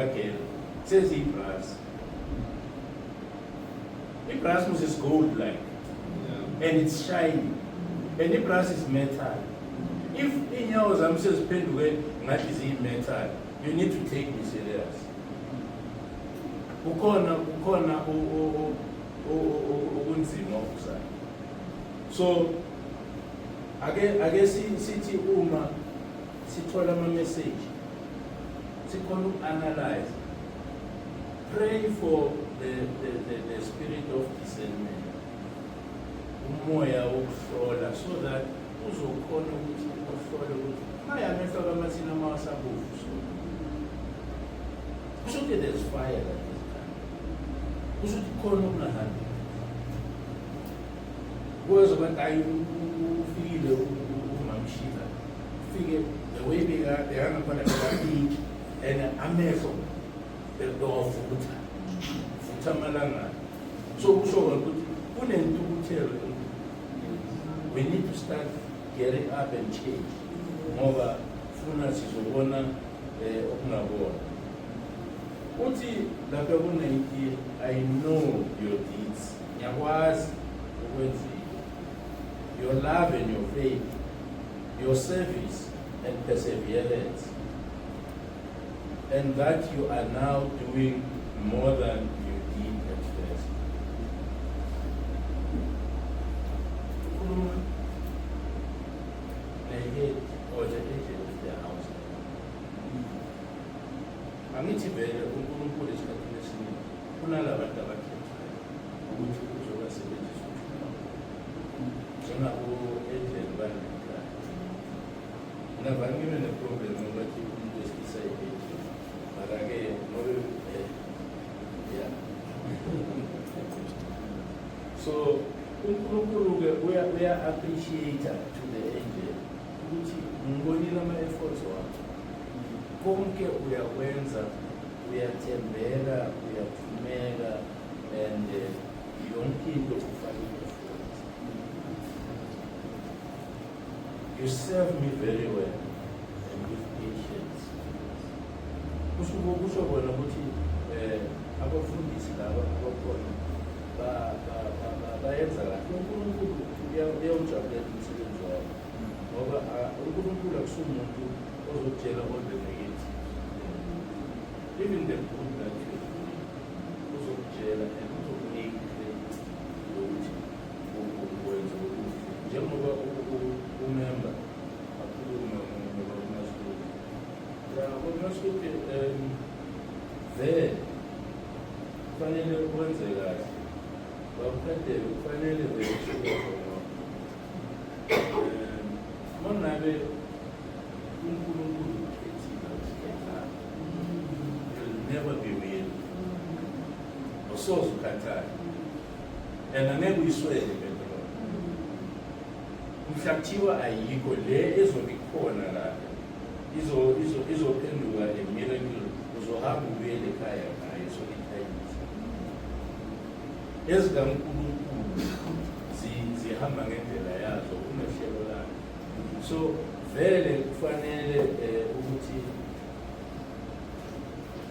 Again, says he brass. The brass is gold like yeah. and it's shiny. And the brass is metal. If in your zam says pendulum that is in metal, you need to take me serious. Ukona ukona o o o o okunzima okuzayo. So ake ake sithi uma sithola ama-message sikhona uku-analyze pray for the, the, the, the spirit of discernment umoya wokuhlola so that uzokhona ukuthi uhlole ukuthi mayamehlo kamathina amawasabovu so kusho ukuthi there's fire that is done kusho ukuthi khona okungahambi kuwezobantu ayi ufikile umamshila Fike the way bekabhekana khona bekaningi and amehlo bewavutha vutha amalangana so kusho kona ukuthi kunentukuthelo we need to start getting up and change ngoba funa sizobona eh, okungabona uthi lapha ku-19 i know your deeds ngiyakwazi ukwenzile your love and your faith your service and perseverance and that you are now doing more than you did at first. Ukhuluma ne-head or the agent of their house. Angithi vele uNkulunkulu esikhathini esiningi kunalabantu abakhethwa ukuthi uzobasebenzisa njengabo edleni bangikhaya navangile neproblem abathi umuntu wesilisa yedleni mara-ke ngobe eh, ya so unkulunkulu-ke uya-appreciate to the angel ukuthi ngibonile ama-efforts wakho konke uyakwenza uyathembeka uyathembeka You serve me very well and with patience. Kusho kusho kona ukuthi eh abafundisi laba abakhona ba ba ba bayenza kahle uNkulunkulu uyawujabulela umsebenzi wabo ngoba uNkulunkulu akusumuntu ozokutshela kodwa negative Even the good that you uzokutshela and uzokunika ukuthi ukwenza ukuthi njengoba umemba akhulume ngoba uMaSuke. Ya, uMaSuke um vele kufanele wenze kahle. Bawukhatele kufanele vele usuke khona. Um, uma ngabe never be weary awusoze ukhathale and angeke uyiswele lento lona mhla kuthiwa ayikho le ezobe ikhona la izophenduka a miracle uzohamba ubuyele ekhaya ngayo so ikhayisa ezikankulunkulu zihamba ngendlela yazo unohlelo lakhe so vele kufanele um ukuthi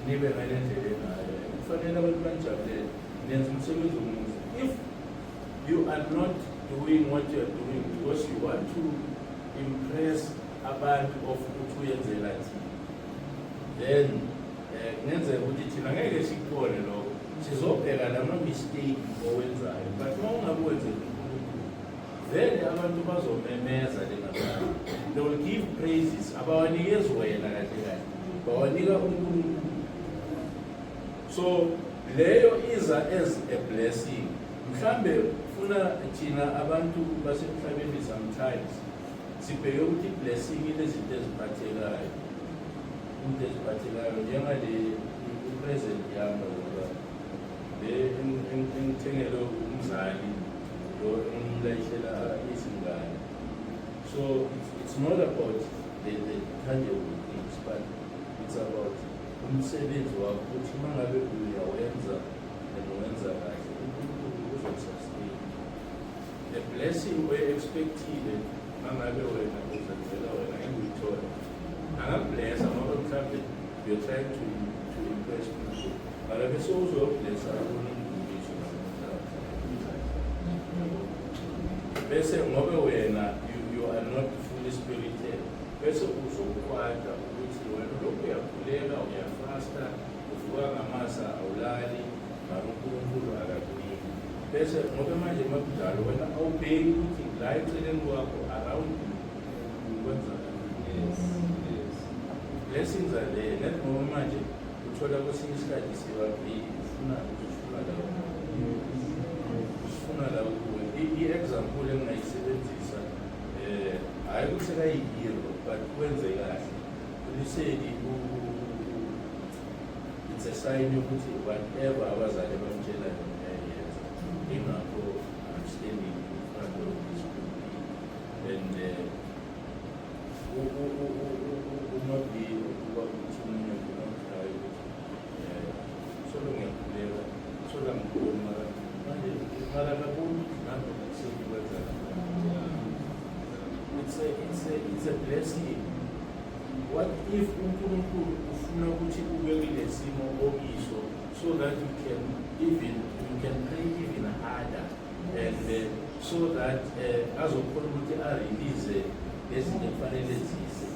nibe ngale ndlela engayo kufanele abantu banijabulele nenza umsebenzi omuhle if you are not doing what you are doing because you want to impress abantu of ukuthi uyenzela thina then eh, kungenzeka ukuthi thina ngeke sikubone lokho sizobheka lama-mistake owenzayo but uma ungakuwenzeli Vele abantu bazomemeza lengabani. They will give praises abawanikezi wena kahle kahle. Bawanika uNkulunkulu. So leyo iza as a blessing. Mhlambe funa thina abantu basemhlabeni sometimes sibheke ukuthi blessing inezinto eziphathekayo. Into eziphathekayo njengale present yami ngoba le engithengelwe umzali lo engimlayishela izingane so it's, it's not about the, the tangible things but it's about umsebenzi wakho ukuthi uma ngabe uyawenza and wenza kahle unkulunkulu uzokusustain the blessing oye-expectile uma ngabe wena uzenzela wena engiyithole angakublesa ngoba mhlawumbe you're trying to, to impress people bese ngobe wena you, you are not fully spirited bese uzokwada ukuthi wena lokhu uyakhuleka uyafasta uvuka ngamasa awulali mara unkulunkulu akakuniki bese ngobe manje makunjalo wena awubheki ukuthi la eceleni kwakho around you kwenzakala yes, yes. blessings are there let ngoba manje Uthola kwesinye isikhathi sibabili ufuna ufuna la ufuna la kuwe. I-example engingayisebenzisa um hhayi ukuthi kayi-hero but kwenze kahle uliseki it's a sign yokuthi whatever abazali bamtshela yona yayenza ingakho i'm standing in front of this and uh, It's a, it's a, it's a blessing. What if uNkulunkulu ufuna ukuthi ube kule simo okiso so that you can even you can pray even harder and uh, so that uh, azokhona ukuthi arelease nezinto kufanele zize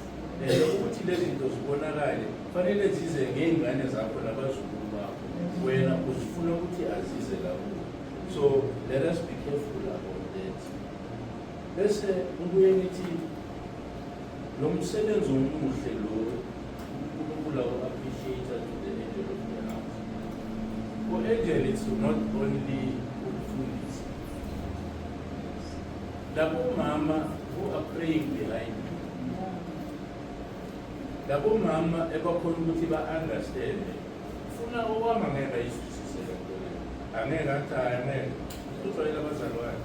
and ukuthi lezi zinto zibonakale kufanele zize ngey'ngane zakho nabazukulu bakho wena uzifuna ukuthi azize kakhulu so let us be careful about that bese ubuye nithi Lo msebenzi omuhle lo uNkulunkulu awu appreciate to the angel of the house. U-angel is not only ukufundisa. Labo mama who are praying behind me. Labo mama ebakhona ukuthi ba-understand. Funa owama ngeke ayizwisise lento le. Angeke athi hayi angeke. Uzwayela abazalwane.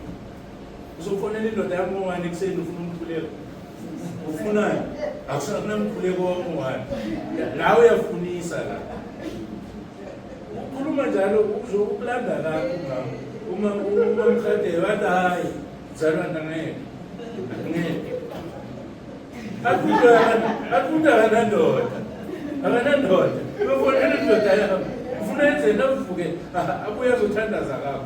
uzofonela indoda yami ngowani ekuseni ufuna umkhuleko ufunani akunamkhuleko wami ngowani nawe uyafunisa la ukhuluma njalo uzokulanda lakho ngam uma uma mhadele wathi hayi mzalwana ngeke ngeke akunto akanandoda akanandoda uyofonela indoda yami ufuna enzeni avuke abuye azothandaza kakho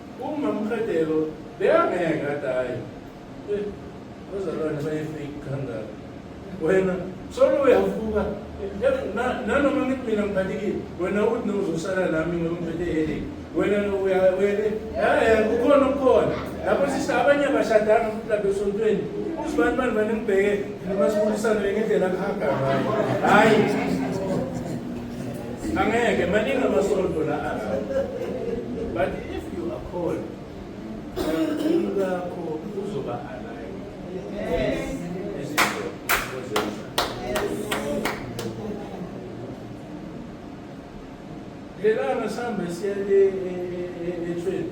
Umamqedelo beyangeke kade hayi. Eh, Bazalwane bayefake kangaka. Wena solo uyavuka eh, nanoma ngithi mina ngiphathekile wena uthi nozosala nami ngoba ngiphethe headache wena uyawele eh kukhona okukhona lapho sisa abanye abashadanga futhi lapha esontweni uzibani bani bani ngibheke noma sibulisane ngendlela kuhaga ngayo hayi Angeke maningi amasonto la aza. But if you are called, umkhulu wakho uzoba alive. Yes. Lelanga sihambe siye ethweni.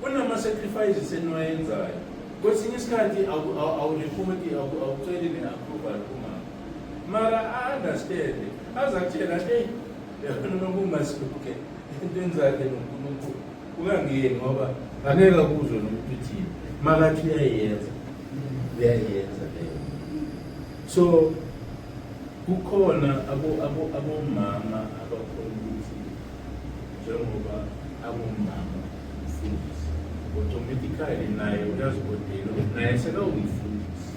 Kunama-sacrifices eniwayenzayo. Kwesinye isikhathi awurepoti awuceli ne-approval kumama. Mara a-understande aze akutshela eyi yona noma ungasuke entweni zakhe nonkulunkulu ungangiyeni ngoba angeke akuzwe nomuntu uthini makathi uyayenza uyayenza leyo so kukhona abomama abakhona ukuthi njengoba angumama umfundisi automatically naye uyazikodela ukuthi naye sekawumfundisi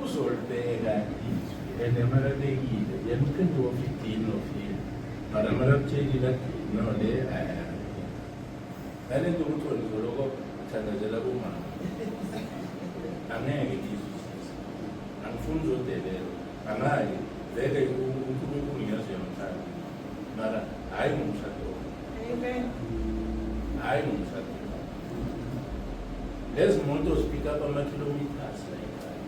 uzolibeka izwi and amalabekile yena uphinde wofidini ofile but amalabutshekile athi no le ngale nto ukuthi wenzoloko uthandazela kumama angeke ngizwisise angifuni uzodelelwa Angayi vele uNkulunkulu ngiyazi uyamthanda mara hhayi ngomshado hhayi ngomshado lezi moto zipika up amakhilomiters layikhaya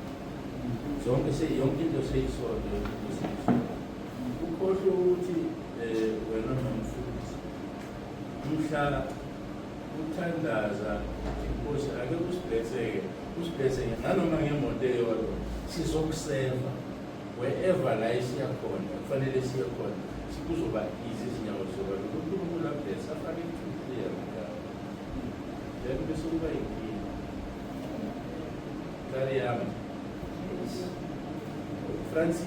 zonke yonke into seyisonto yonke into seyisonto ukhohlwe ukuthi um wena nomfundisi umhla Uthandaza inkosi ake usibhetheke usibhetheke nanoma ngemoto eyodwa sizokuseva wherever la esiya khona kufanele siye khona sikuzoba easy izinyawo zoba uNkulunkulu abhesa afake ithuthu yami then bese kuba yinkinga kari yami Francis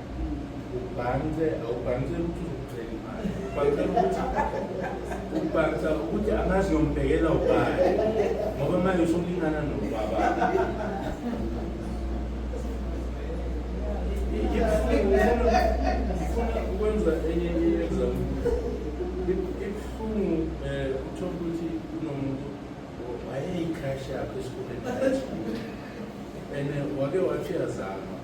ubhanse awubhanse ukuthi uzokucela imali ubhanse ukuthi ubhansa ukuthi angazi yombhekela ubani ngoba manje usulingana nobaba ngifuna ukwenza enye i-exam ibuhlungu um eh, uthole ukuthi kunomuntu wayeyikhrashi yakho esikoleni and wake wathi yazama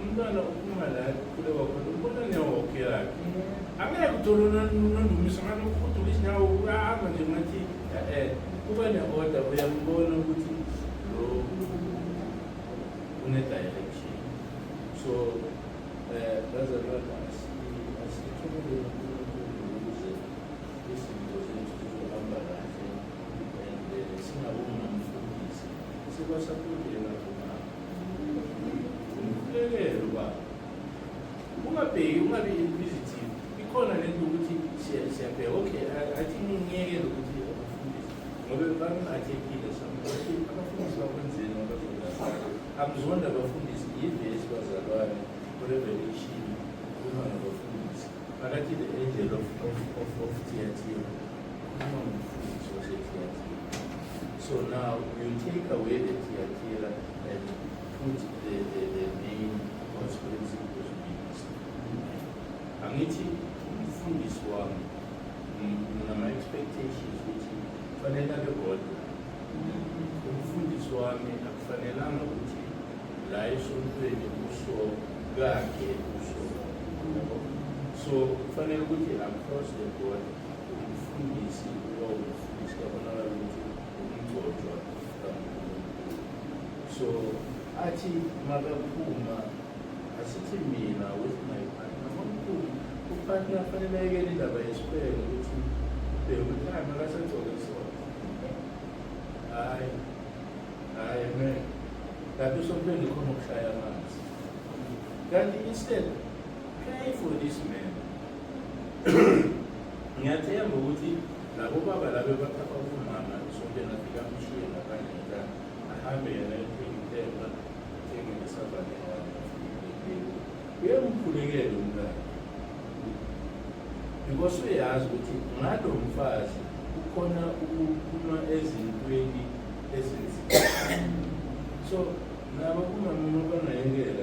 umntwana uphuma la kukhule kwakhona umbona nyawo wakhe yakhe angeke uthole nondumiso ngani ukhuduka isinyawo uyahamba nje ngathi e-e kuba ne-order uyambona ukuthi lo une-direction so um bazalwana asithukuleni umkhulekelo ba ungabheki ungabi inquisitive ikhona le nto ukuthi siyabheka okay i think ngeke lokuthi abafundisi ngoba bangiphathekile samuthi abafundisi bakwenzeni ngoba akuzonda abafundisi yivesi bazalwane revelation uma ngabafundisi phakathi the angel of, of, of, of theatre uma ngumfundisi wasethiyathini So now you take away the tier tier and put the, the, the main conspiracy because we angithi umfundisi wami nginama expectations ukuthi kufanele abe bodwa umfundisi wami akufanelanga ukuthi la esontweni uso kakhe uso so kufanele ukuthi across the board umfundisi so athi makaphuma asithi mina with my partner mamkhulu upartner afanele ayekele indaba yesibheke ukuthi ubheke ukuthi hayi makasagcoke sona hayi hayi me kanti usompende khona ukushaya amanzi kanti instead pray for this man ngiyathemba ukuthi labo baba labe bathatha umama sonke nafika mshiye ngaphandle ngitana ahambe yena ethengithenga athenge nesabane uyamkhulekela umntana because uyazi ukuthi ngalo mfazi kukhona ukuphuma ezintweni ezinzima so nabo kumamina banayekela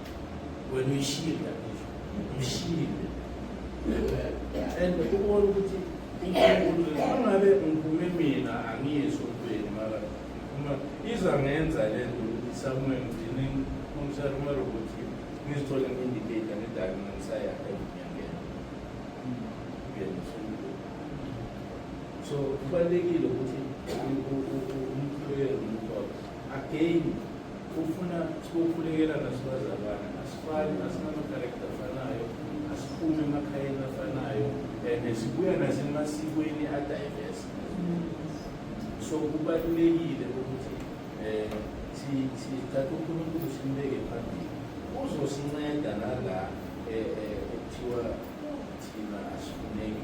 wena uyishile kakhulu umshile and ubona ukuthi ungabe ngiphume mina angiyisho ntweni mara uma iza ngenza le nto ukuthi somewhere ngigcine umsara uma robothi ngizithole ngi-indicator ngidake ngisayakhe ngiyangena so kubalulekile ukuthi umkhulekele umkhokhe again ufuna sibokhulekela nasibazalwane asifani asinamakarekta afanayo asiphume emakhayeni afanayo and sibuya nasemasikweni adiverse so kubalulekile ukuthi um sithathe unkulunkulu simbeke phambili uzosinceda nala eh, eh, ekuthiwa thina asifuneki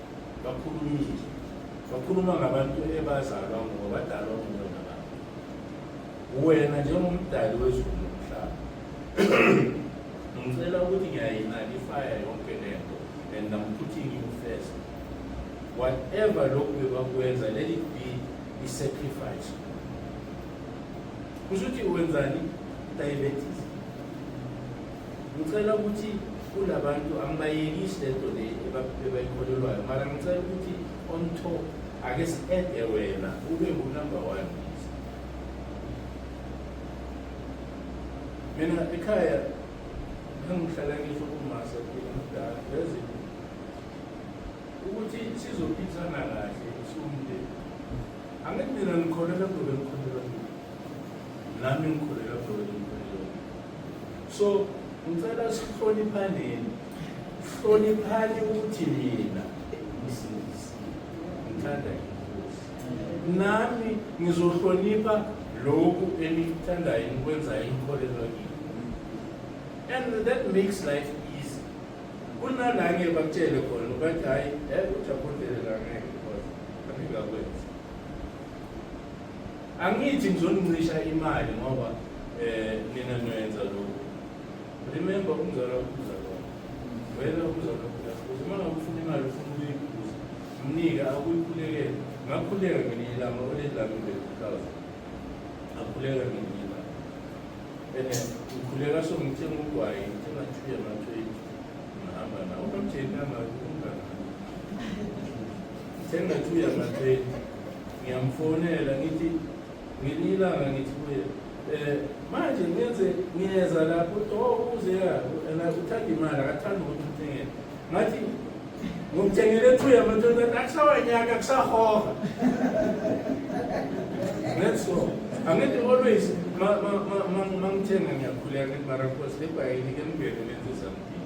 bakhulumile bakhuluma ngabantu ebazalwa ngoba badalwa nguwe ngabantu wena njengomdali wezulu nomhlaba ngicela ukuthi ngiyayinaki ifaya yonke le nto and I'm putting you first whatever lokhu bebakwenza let it be i-sacrifice kusho ukuthi wenzani diabetes Ngicela ukuthi kulabantu angibayekisi lento le ebayikholelwayo mara ngicela ukuthi on top ake si-ede wena ube ngunumber one mina ekhaya ngangihlala ngisho kumasa mdala yazi ukuthi sizophithana kahle sumndeni angithi mina ngikholelwa kulobe ngikholelwa nami ngikholelwa kulobe so ngicela sihloniphaneni hloniphani ukuthi mina msindisi ngithanda inkosi nami ngizohlonipha lokhu enikuthandayo nikwenzayo nikholelwa kini and that makes life easy kunalake bakutshele khona bathi hhayi um ujaphondelela ngeke because angikakwenzi Angithi ngizoncisha imali ngoba eh nina nwenza lokho. Remember umzala ukuza lokho. Wena umzala ukuza. Uma ngakufuna imali ufuna ukuyikuza. Mnike akuyikhulekele. Ngakhuleka ngelinye ilanga olelami ngekhaza. Ngakhuleka ngelinye ilanga. Ene ngikhuleka so ngithenga ugwayi, ngithenga thuye mathoyi. Ngihamba nawo. Unomjeni nama umngane. Thenga thuye mathoyi. ngiyamfonela ngithi ngelinye ilanga ngithi kuye um manje ngenze ngiyeza lapho to uze and uthanda imali akathanda ukuthi uthengele ngathi ngomthengele two yamathonta akusawanyaka kusahoha that's all angithi always mangithenga ngiyakhuleka ngithi mara nkosi lebhayini ke ngibheke nenze something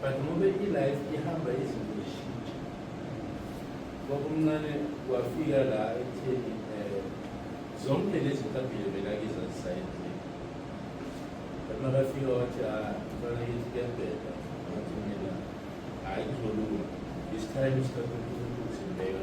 but ngobe i-life ihamba izinto zishintsha kwakumncane wafika la ekutheni um zonke lezi ntabile bekakiza zisayendleni but makafika wathi a ah, mfana kithi kuyabheda wathi mina hhayi kuzolunga this time isikhathi unkulunkulu simbeka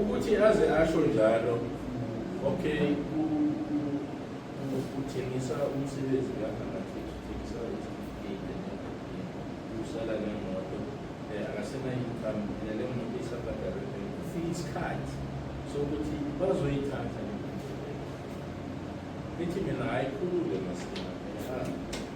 ukuthi aze asho njalo okay uthengisa umsebenzi kaangathengisa usala nemoto eh, akasenayincome and le moto isabhadalwe ufike isikhathi sokuthi bazoyithatha ithi mina hayi khulule masina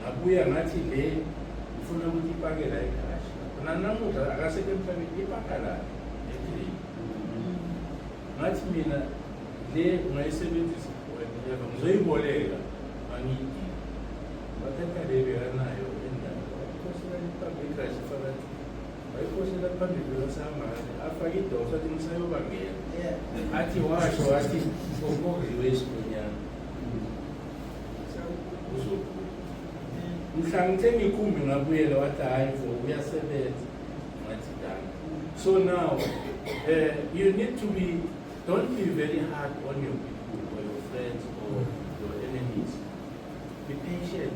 ngabuya ngathi le ngifuna ukuthi ipake la igaraji nanamuhla akasekho emhlabeni ipaka la ekhilini ngathi mina le ungayisebenzisa wena ngizoyiboleka angiyidingi bathatha le bekanayo endawo wayiphosela ipaka igaraji phakathi wayiphosela phambili kwesambane afake idosa athi ngisayobangena athi washo wathi okoviwe isikhonyana mhlangithe ngikhumbi ngabuyela wathi hayi vo uyasebenza ngathi dani so now uh, you need to be don't be very hard on your people or your friends or your enemies be patient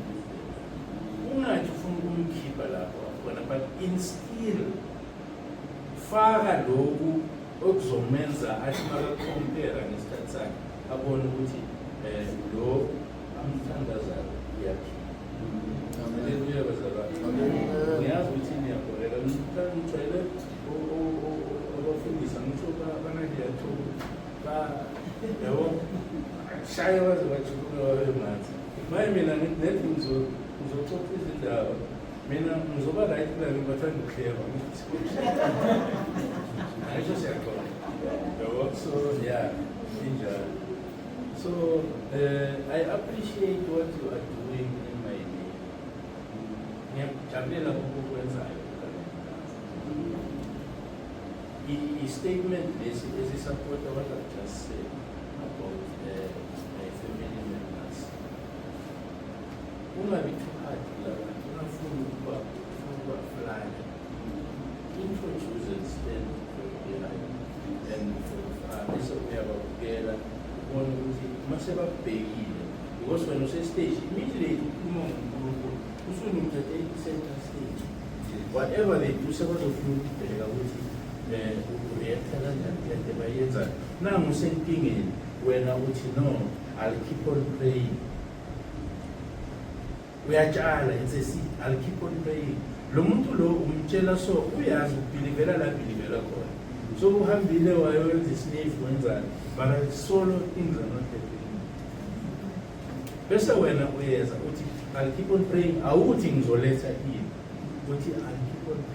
ungathi ufuna ukumkhipha lapho wakhona but instill faka lokhu okuzomenza athi makakompera ngesikhathi sakhe abone ukuthi um lo amthandazayo uyaphila aleluya bazalwane ngiyazi ukuthi niyabholeka ngicele abafundisa ngisho banakuyathuka ba yabo shaye baze bajuluka babe ngathi maye mina nethi ngizoxoxa izindaba Mina ngizoba right mina ngibathanda ukuhleba. Ayisho siyaxoxa. Yabo so yeah, injalo. So uh, I appreciate what you are doing in my day. Ngiyakujabulela ukukwenzayo. I-statement lesi esisapota what I've just said. Ungabithuphathi la bantu bafuna ukuba ufuna ukuba fly. Introduce and stand for behind and for far bese uyababukela ubone ukuthi uma sebakubhekile because wena usestage immediately ukhuluma ngoNkulunkulu usunumthathe i-center stage whatever they do sebazofuna ukubheka ukuthi um ureacta kanjani kule nto bayenzayo nangu usenkingeni wena uthi no i'll keep on praying uyatshala it's a seed i'll keep on praying lo muntu lo umtshela so uyazi ubhilivela la bhilivela khona so uhambile wayowenza isinifu wenzani but i solo things are not happening bese wena uyeza uthi i'll keep on praying awuthi ngizoletha ini uthi i'll keep on praying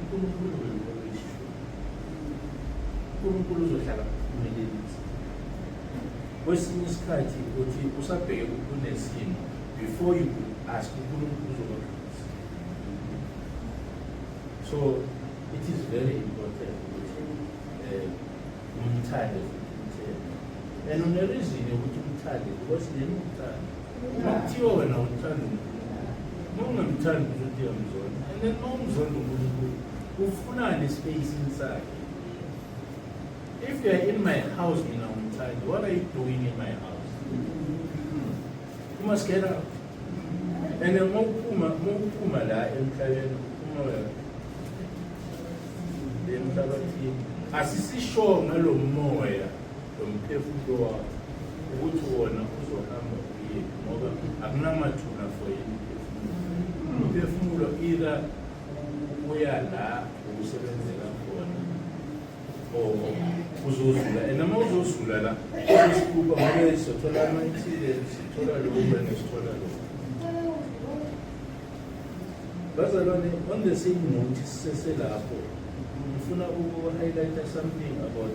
uNkulunkulu uzoyishilo uNkulunkulu uzohlala kuphumelelisa kwesinye isikhathi ukuthi usabheke kunesimo before you ask uNkulunkulu uzokwaqinisa so it is very important ukuthi um umthande futhi umthembe and unerizini yokuthi umthande because yena umthande Makuthiwa wena uthanda nongamthandi ukuthi uyamzonda and then mawumzonda unkulunkulu ufunani espacini sakhe if you are in my house mina umthandi what are you doing in my house you must get out and then mawuphuma mawuphuma la emhlabeni uphuma wena emhlabathini asisisho ngalo moya lomphefumulo wakho ukuthi wona uzohamba uye ngoba akunamathuna for yini umphefumulo either uya la ukusebenzela khona or uzozula and uma uzozula la uzosikhupha ngobe sithola amathile sithola lokhu wena sithola lokhu bazalwane on the same note siseselapho ngifuna uku-highlighta something about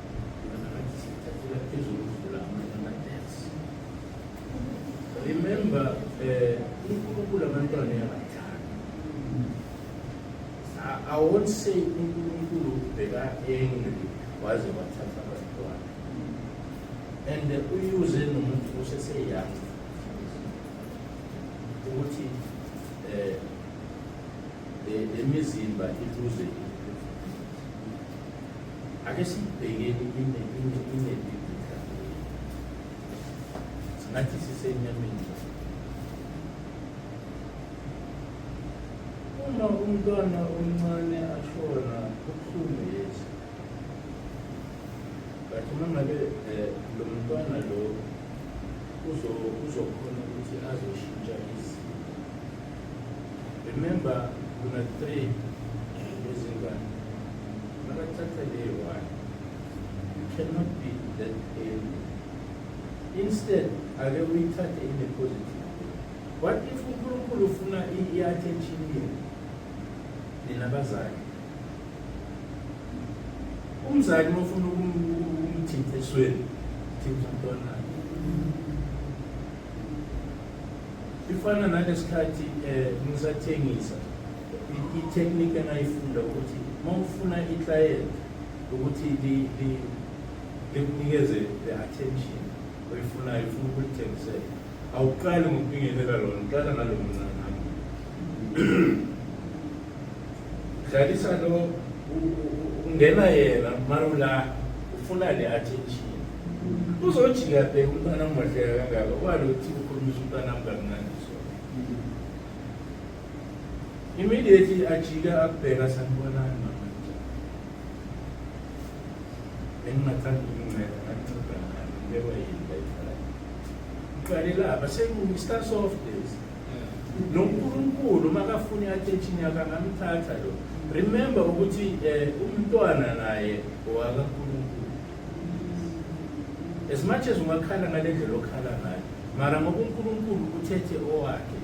Remember, eh, uNkulunkulu abantwana yabathanda. I won't say uNkulunkulu ubheka angry waze wathatha abantwana. And uyuze nomuntu oseseyoung ukuthi eh le mizimba iluze Ake siyibhekeni ine ine ine bibhida. Singathi sisenyameni. Uma umntwana omncane ashona kubuhlungu yes. But uma ngabe eh, lo mntwana lo uzo uzokhona ukuthi azoshintsha izinto. Remember kuna three ezingane nakathatha leyo one you cannot be that angry instead ake uyithathe in a positive what if unkulunkulu ufuna i-attention yenu nina bazali umzali mofuna ukumthinta esweni thinta umntwana ifana nalesikhathi eh ngisathengisa i-technique engayifunda ukuthi mawufuna i-client ukuthi likunikeze the attention oyifunayo ufuna ukulithengisela awuqali ngokubingelela lona uqala nalo mncane Dlalisa lo ungena yena marula ufuna le attention. Uzojika bheka umntwana mwahleka kangaka walo uthi ukhulumisa umntwana mkamnandi so. Immediately ajika akubheka sanibonani mama. Bengingathanda ukuncela anceda ngani ngibekwa yini la ikhaya. Uqale lapha seku start soft days. noNkulunkulu makafuni athetshini yakhe angamthatha lo remember ukuthi eh, umntwana naye owakaNkulunkulu as much as ungakhala ngale ndlela okhala ngayo mara ngoba uNkulunkulu uthethe owakhe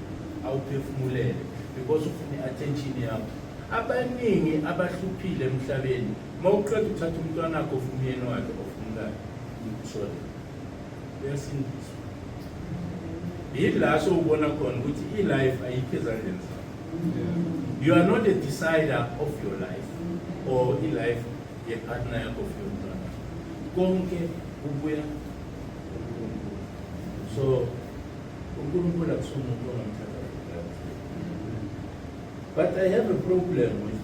awuphefumulele because ufuna i-attention yakho abaningi abahluphile emhlabeni uma uqeda uthatha umntwana wakho ofuna umyeni wakhe ofuna umkakhe sorry uyasindiswa yila sowubona khona ukuthi i-life ayikho ezandleni zakho you are not a decider of your life or i-life yepartner yakho of your mntwana konke kubuya so unkulunkulu akusumuntu ongamthatha but i have a problem with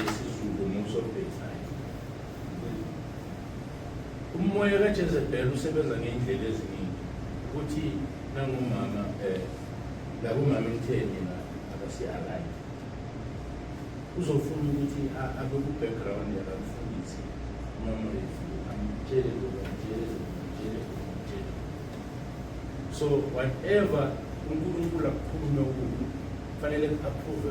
IsiZulu most of the time. Umoya kaJezebel usebenza ngey'ndlela eziningi ukuthi nangomama um eh, lakumama emtheni na abasiyi-alike uzofuna ukuthi abe ku-background yakamfundisi umamrefu amtshele lokhu amtshele lokhu amtshele lokhu amtshele so whatever unkulunkulu akukhulume kuyo kufanele ku-approve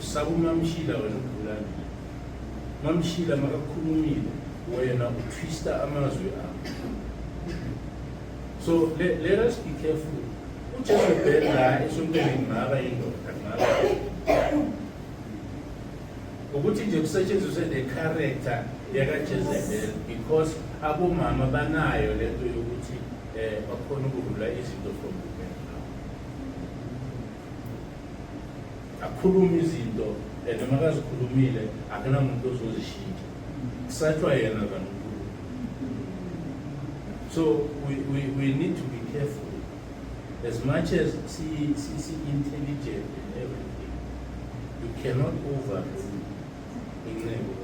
Saka umamshila wena Mkhulane. Mamshila makakhulumile wena utwista amazwi akho. So let, let us be careful. Ujesu ubhedla esontweni ngaba indoda ngaba. Ukuthi nje kusetshenziswe the character yakaJezebel because abomama banayo lento yokuthi eh bakhona ukurula izinto from akhulume izinto and noma kazikhulumile akunamuntu ozozishintsha kusatshwa yena kankulu so we, we, we need to be careful as much as si-intelligent in everything you cannot overrule inceku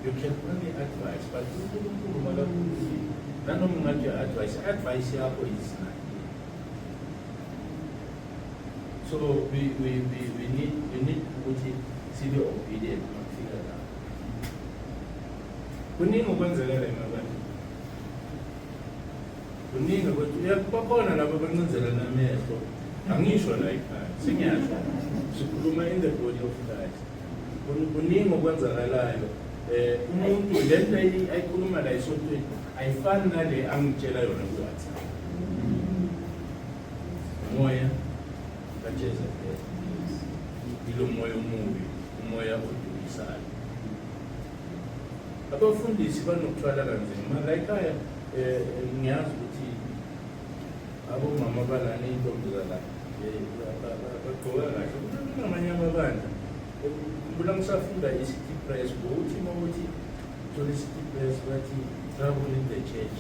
you can only advise but unkulunkulu makakhulumile nanoma ungathi advice advice yakho is So we, we, we, we need we need ukuthi sibe obedient makufika la. Kuningi okwenzeka la emabantu. Kuningi ukuthi uyakubakhona labo bancinzela namehlo. Angisho la ekhaya. Singiyasho. Sikhuluma in the body of Christ. Kuningi okwenzakalayo. Eh umuntu lento ayikhuluma la isontweni ayifani nale angitshela yona kuwhatsapp moya kajesu ilo moya omubi umoya odukisayo abafundisi banokuthwala kanzima mara ekhaya eh, ngiyazi ukuthi abomama balana iy'ntombi zala eh, bagqoka kahle kunamanye amabandla kula ngisafunda i-city press ngokuthi uma ukuthi Uthola isitipesi bathi travel in the church.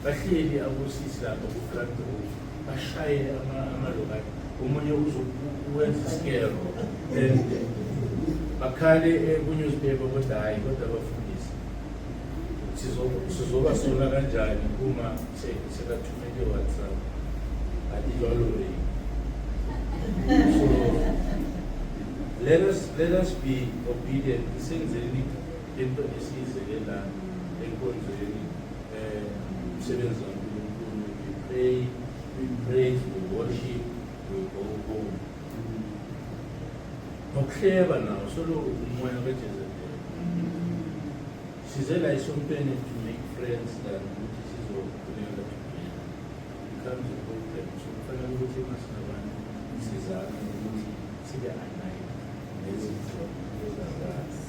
Bahleli abosisi lapha ku-grand road bashaye amalokati omunye uzowenza isikero then bakhale eh, kunewspaper kodwa hhayi kodwa abafundisi sizoba sola kanjani uma sekathumele whatsapp adilwalolei so let us let us be obedient. He sings in Into esize ke la enkonzweni eh umsebenzi kaNkulunkulu we pray we praise we worship we go home. Nokuhleba nawo soloko umoya kaJezebel. Size la isontweni to make friends than ukuthi sizokhuleka together. It comes a problem. So kufanele ukuthi masinabantu sizame ukuthi sibe aligned nezinto ezakwazi.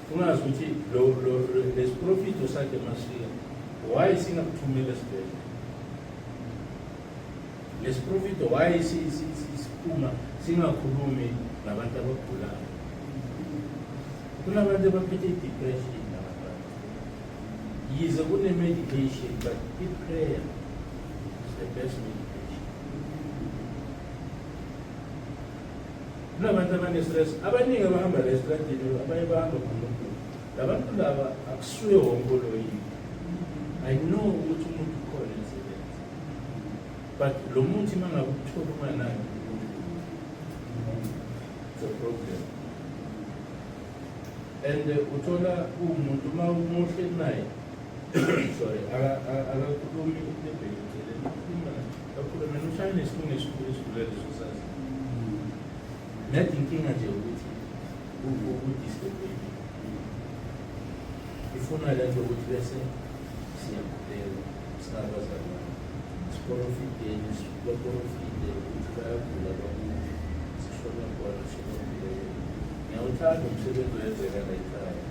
Ungazi ukuthi lo lo lesiprofito sakhe masifika why singakuthumela esibhedlela lesiprofito why siphuma singakhulumi nabantu abagulayo kunabantu abaphethe i-depression nabantu yize kune-medication but i-prayer is the best medication Kunabantu abanestress abaningi abahamba la estradini abaye bahamba ngomuntu. Labantu laba akusuye wonke oloyile. I know ukuthi umuntu ukhona emsebenzi. But lo muthi uma ngabe ukuthola unganaki it's a problem. And uh, uthola umuntu uma umuhle naye sorry, I, I, I don't know if Net inkinga nje ukuthi ukudisturbe ifuna le nto ukuthi bese siyakhuleka singabazalwane siporofideni baporofide ukuthi bayagula bakuthi sishona khona sinombuleke ngiyawuthanda umsebenzi wenzeka layikhaya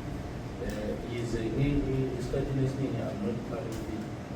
um yize isikhathini esiningi i'm not part of it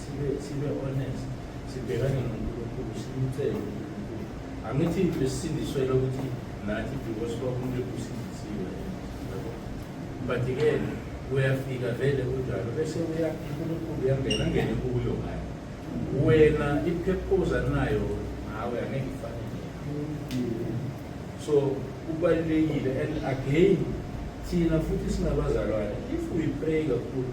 sibe sibe honest sibhekane noNkulunkulu simcele uNkulunkulu angithi besindiswele ukuthi nathi because kwakumuntu ekusindisiwe yabo but ke uyafika vele kunjalo bese uya uNkulunkulu uyangena ngene kuyo ngayo wena iphephuza nayo ngawe angeke ifane so kubalulekile and again thina futhi singabazalwane if we pray kakhulu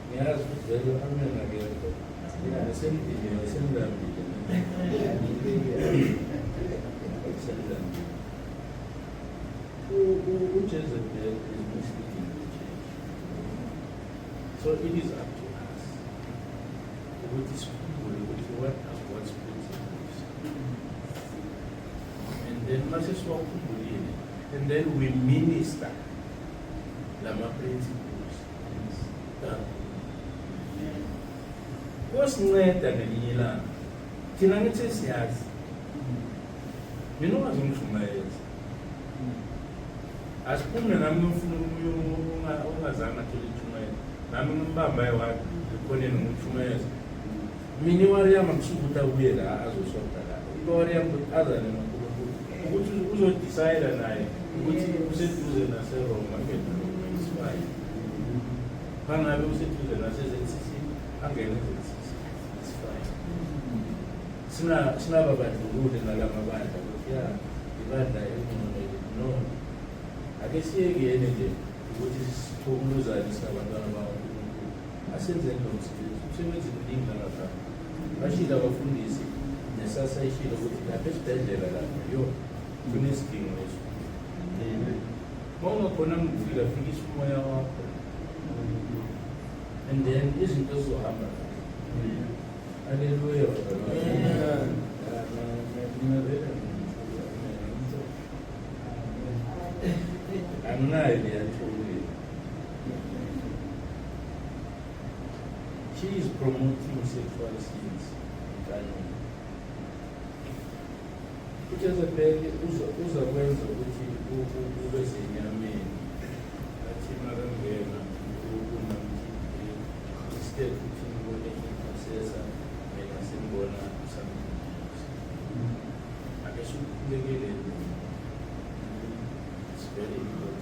Ngiyazi vele amen akekho. Mina semdinini semdambile. Semdambile. UJezebel is misleading the church. So it is up to us ukuthi sikhumbule ukuthi what does God's principles and then mase siwakhumbulile and then we minister lama principles Kosinceda ngelinye ilanga. Thina ngithi siyazi. Mina ungaze ungishumayeze. Asiphume nami ngifuna umuntu ongazange athole itshumayelo. Nami ngimbamba ewathi ngikhoneni ngimshumayeza. mina iwariyama kusuke ukuthi abuye la azoshonda la iwariyama ukuthi azane nonkulunkulu ukuthi uzodisayida naye ukuthi useduze naseroma angene nomaisifayi bangabe useduze nasezensisi angene ezensisi isifayi sinababandlulule ngala mabandla ukuthi ya ibandla elingcono no ake siyekuyene nje ukuthi sithokuluzane singabantwana bawo Asenzeni lo msebenzi, umsebenzi mningi ngalapha. Bashilo abafundisi nesasa ishilo ukuthi lapha esibhedlela lapha yo kunesidingo eso. Uma ungakhona ngifika fikisa umoya wakho and then izinto zizohamba Haleluya. Nimevela anginayo le She is promoting sexual sins entanyeni. UJezebel uzakwenza ukuthi ube senyameni athi makangena uNkulunkulu instead ukuthi ngibone intercessor mina sengibona something else. Ake sikhulekele ntombi. It's very important.